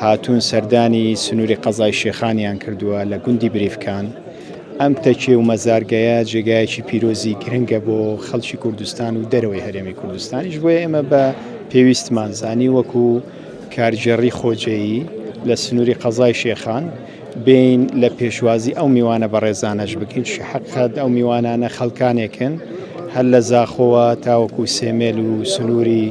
هاتوون سەردانی سنووری قەزای شێخانیان کردووە لە گوندی بریفکان ئەم تەکێ و مەزارگەیە جێگایەکی پیرۆزی گرنگە بۆ خەڵکی کوردستان و دەرەوەی هەرێمی کوردستانیش بۆیە ئێمە بە پێویستمان زانی وەکو کارگێڕی خۆجێیی لە سنووری قەزای شێخان بێین لە پێشوازی ئەو میوانە بەڕێزانەش بکەین شەحقەت ئەو میوانانە خەڵکانێکن هەر لە زاخۆوە تاوەکو سێمێل و سنووری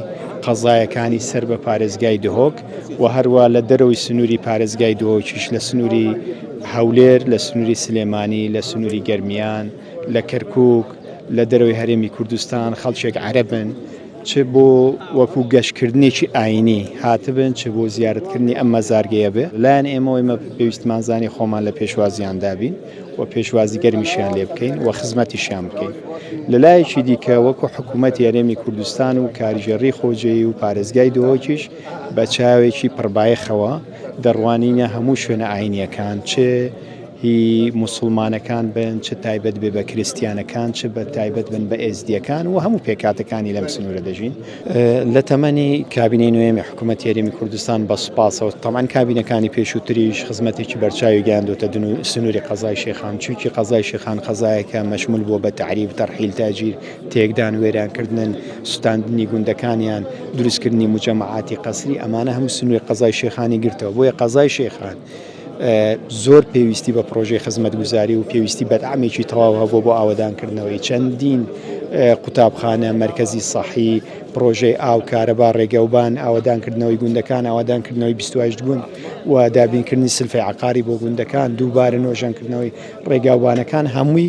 قەزایەکانی سەر بە پارێزگای دهۆک و هەروە لە دەرەوەی سنووری پارێزگای دهۆکیش لە سنووری هەولێر لە سنووری سلێمانی لە سنووری گەرمیان لە کەرکک لە دەرەوەی هەرێمی کوردستان خەڵکێک عەرەبن چ بۆ وەکو گەشتکردنێکی ئاینی هاتبن چ بۆ زیارەتکردنی ئەم مەزارگەیە بێ لایەن ئێمەوە ئێمە پێویستمان زانی خۆمان لە پێشوازیان دابین و پێشوازی گەرمیشیان لێ بکەین و خزمەتیشیان بکەین لەلایەکی دیکە وەکو حکوومەت یارێمی کوردستان و کاریژێڕی خۆجێی و پارێزگای دۆکیش بە چاوێکی پڕبایەخەوە دەڕوانینە هەموو شوێنە ئاینیەکان چێ هی موسڵمانەکان بن چ تایبەت بێ بە کریستیانەکان چ بە تایبەت بن بە ئێزدیەکان و هەموو پێکاتەکانی لەم سنوورە دەژین لە تەمەنی کابینەی نوێمی حکوومەت یاریمی کوردستان بە سوپاسەوە تەمان کابینەکانی پێشووتریش خزمەتێکی بەرچاوی گەیاندوتە دن و سنووری قەزای شێخان چووکی قەزای شێخان قەزایەکە مەشمول بووە بە تعریب تەرحیل تاجیر تێکدان وێرانکردن سوتاندنی گوندەکانیان دروستکردنی مجەمعاتی قەسری ئەمانە هەموو سنووری قەزای شێخانی گرتەوە بۆیە قەزای شێخان زۆر پێویستی بە پڕۆژەی خزمەتگوزاری و پێویستی بەدعمێکی تەواو هەبوو بۆ ئاوەدانکردنەوەی چەندین قوتابخانە، مەرکەزی سەحی، پڕۆژەی ئاو، کارەبا، ڕێگەوبان، ئاوەدانکردنەوەی گوندەکان، ئاوەدانکردنەوەی بیست و هەشت گوند و دابینکردنی سلفی عەقاری بۆ گوندەکان، دووبارە نۆژەنکردنەوەی ڕێگاوبانەکان، هەمووی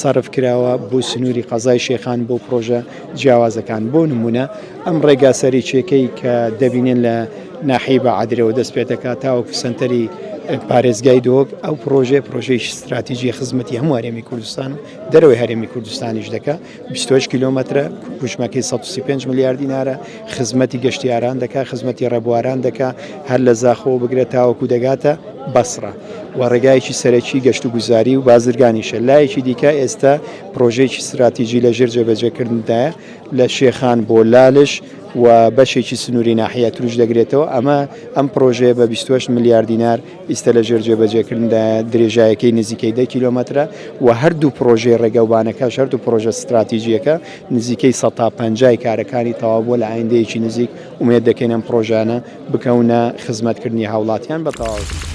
سەرف کراوە بۆ سنووری قەزای شێخان بۆ پڕۆژە جیاوازەکان بۆ نموونە ئەم ڕێگا سەرێکیەکەی کە دەبینێن لە ناحی بە عادرەوە دەست پێ دەکات تاوەکو سنتەری پارێزگای دۆک ئەو پرۆژێ پرۆژێکی استراتیژی خزمەتی هەموو هەرێمی کوردستان و دەرەوەی هەرێمی کوردستانیش دەکە 20 کیلومترە کوژمەکەی 135 ملیار دینارە خزمەتی گەشتیاران دەکا خزمەتی ڕێبواران دەکا هەر لە زاخۆوە بگرە تاوەکو دەگاتە بەسڕە و ڕێگایەکی سەرەکی گەشت و گوزاری و بازرگانیشە لایەکی دیکە ئێستا پرۆژەیەکی ستراتیجی لە ژێر جێبەجێکردندایە لە شێخان بۆ لالش و بەشێکی سنووری ناحیە تروش دەگرێتەوە ئەمە ئەم پرۆژەیە بە 28 ملیار دینار ئیستا لە ژێر جێبەجێکردندا درێژایەکەی نزیکەی دە کیلۆمەترە و هەردوو پرۆژەی ڕێگەوبانەکە شەرت و پرۆژە ستراتیجیەکە نزیکەی سەد تا پەنجا ی کارەکانی تەواوبووە، لە ئایندەیەکی نزیک ئومێد دەکەین ئەم پڕۆژەیانە بکەونە خزمەتکردنی هاوڵاتیان بە تەواوەتی.